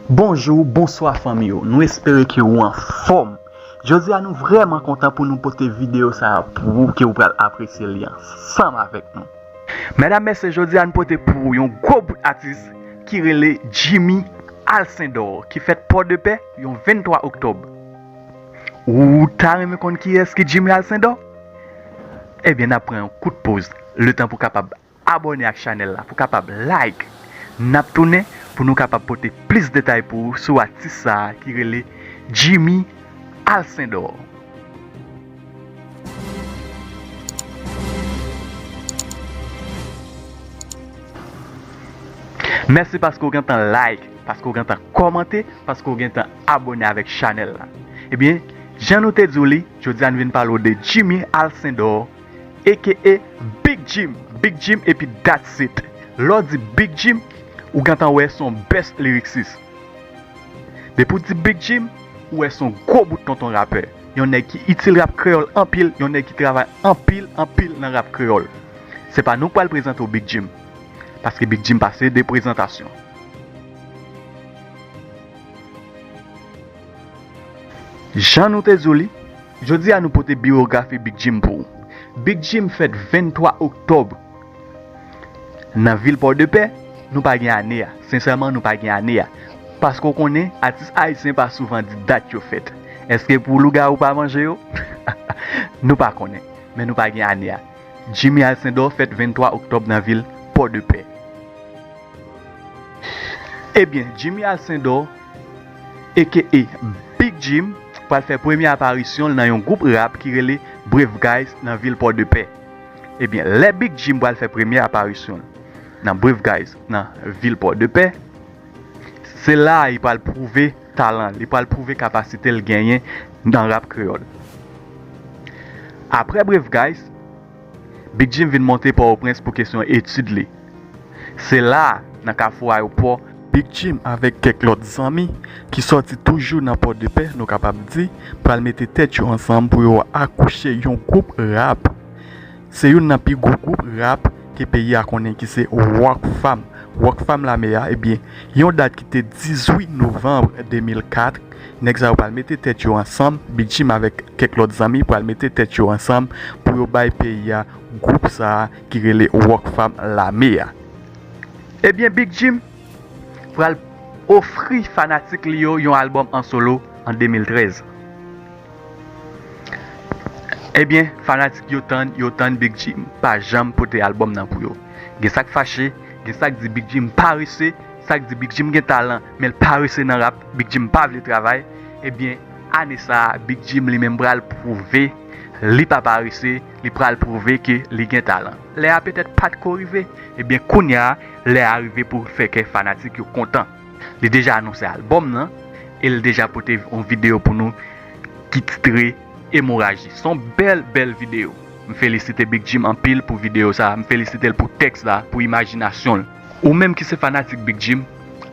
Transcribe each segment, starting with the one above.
Bonjou, bonswa fanmi yo, nou espere ke ou anfòm. Jodi a nou vrèman kontan pou nou pote videyo sa a pou ou ke ou pral apresye li ansanm avèk nou. Mèdam mesye jodi a nou pote pou ou yon gwo bout atis ki rele Jimmy Alcindor ki fèt Pòdepè yon 23 oktòb. Ou ta renmen konn kiyès ki Jimmy Alcindor? Ebyen n ap pran yon kout poz letan pou kapab Abòne ak chanèl la pou kapab like nap tounen pou nou kapab pote plis detay pou ou sou atis sa ki rele Jimmy Alcindor. Mèsi paske ou gentan like, paske ou gentan kòmante, paske ou gentan abòne avèk chanèl la. Ebyen jan nou te di w li, jodi a nou vin pale w de Jimmy Alcindor. aka Big Jim, Big Jim epi that's it. Lè w di Big Jim, ou gentan wè se yon best lyricist. Depi w di Big Jim, ou wè se yon gwo bout tonton rapè. Yon nèg ki itil rap kreyòl anpil, yon nèg ki travay anpil, anpil nan rap kreyòl. Se pa nou k pral prezante w Big Jim, paske Big Jim pase de prezantasyon. Jan nou te di w li. Jodi a nou pote biyografi Big Jim pou ou. Big Jim fèt 23 oktòb nan vil Pòdepè, nou pa gen ane a, sensèman nou pa gen ane a, paske ou konnen atis ayisyen pa souvan di dat yo fèt, èske pou lougawou pa manje yo? nou pa konnen, men nou pa gen ane a. Jimmy Alcindor fèt 23 oktòb nan vil Pòdepè. Ebyen, Jimmy Alcindor. aka Big Jim pral fè premye aparisyon l nan yon gwoup rap ki rele Brave Guys nan vil Pòdepè. Ebyen lè Big Jim pral fè premye aparisyon l nan Brave Guys nan vil Pòdepè, se la li pral pwouve talan l, li pral pwouve kapasite l genyen nan rap kreyòl. Aprè Brave Guys. Big Jim vin monte Pòtoprens pou kesyon etid li. Se la, nan kafou ayopò, Big Jim avèk kèk lòt zanmi ki sòti toujou nan Pòdepè nou kapab di pral mete tèt yo ansanm pou yo akouche yon gwoup rap. Se youn nan pi gwo gwoup rap ke peyi a konnen ki se Rock Fam. Rock Fam Lame a, ebyen yon dat ki te 18 novanb 2004 Nèg sa yo pral mete tèt yo ansanm, Big Jim avèk kèk lòt zanmi pral mete tèt yo ansanm pou yo bay peyi a gwoup sa a ki rele Rockfam lame a. Ebyen Big Jim pral ofri fanatik li yo yon albòm an solo an 2013. Ebyen fanatik yo tann, yo tann Big Jim pa janm pote albòm nan pou yo. Gen sa k fache, gen sa k di Big Jim parese. Sak di Big jim gen talan menl parese nan rap Big jim pa vle travay ebyen ane sa Big jim li menm pral prouve li pa parese li pral prouve ke li gen talan lè a petèt pat ko rive ebyen kounya lè a rive poul fè kè fanatik yo kontan li deja anonse album nan el deja pote on video pou nou ki titre emoraji son bèl bèl video m felisite Big jim anpil pou video sa m felisitel pou tèks la pou imajinasyonl. Ou menm ki se fanatik Big Jim,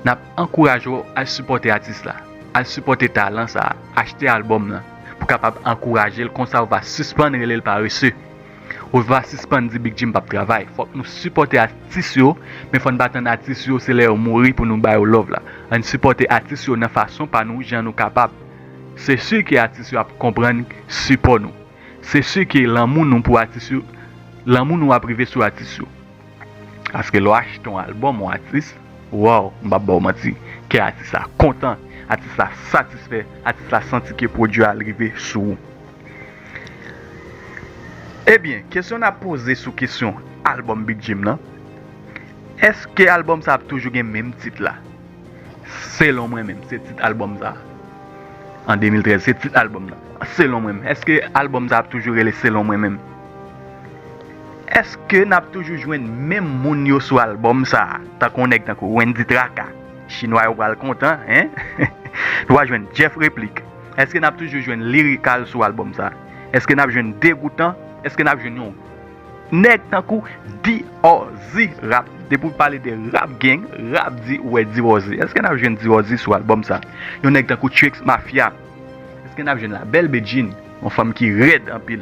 nap ankouraje w al sipòte atis la, al sipòte talan sa, achte albòm lan pou kapab ankouraje l konsa ou va sispann rele l parese, ou va sispann di Big Jim pap travay, fòk nou sipòte atis yo men fò n pa tann atis yo se lè yo mouri pou nou ba yo love la, ann sipòte atis yo nan fason pa nou jan nou kapab, se si ke atis yo ap konprann sipò nou, se si ke lanmou nou pou atis yo, lanmou nou ap rive sou atis yo. Aske lè w achte yon albòm yon atis, waww, m pap ba w manti, kè atis la kontan, atis la satisfè, atis la santi ke pwodui a rive sou ou. Ebyen, kesyon n ap poze sou kesyon albòm Big Jim lan, èske albòm sa ap toujou gen menm tit la? Selon mwen menm, se tit albòm sa. An 2013, se tit albòm nan. Selon mwen menm, èske albòm sa ap toujou rele Selon mwen menm? Eske nap toujou jwenn menm moun yo sou album sa tankou yon nèg tankou Wendy Traka chinwa yo pral kontan hein nou pa jwenn Jeff Replik eske nap toujou jwenn Lirikal sou album sa eske nap jwenn Degoutan eske nap jwenn yon nèg tankou Diwozi Rap depi w pale de Rap Gang Rap Di ou wè Diwozi eske nap jwenn Diwozi sou album sa yon nèg tankou Chuicks Mafya eske nap jwenn La Belle Bedjine yon fanm ki rèd anpil.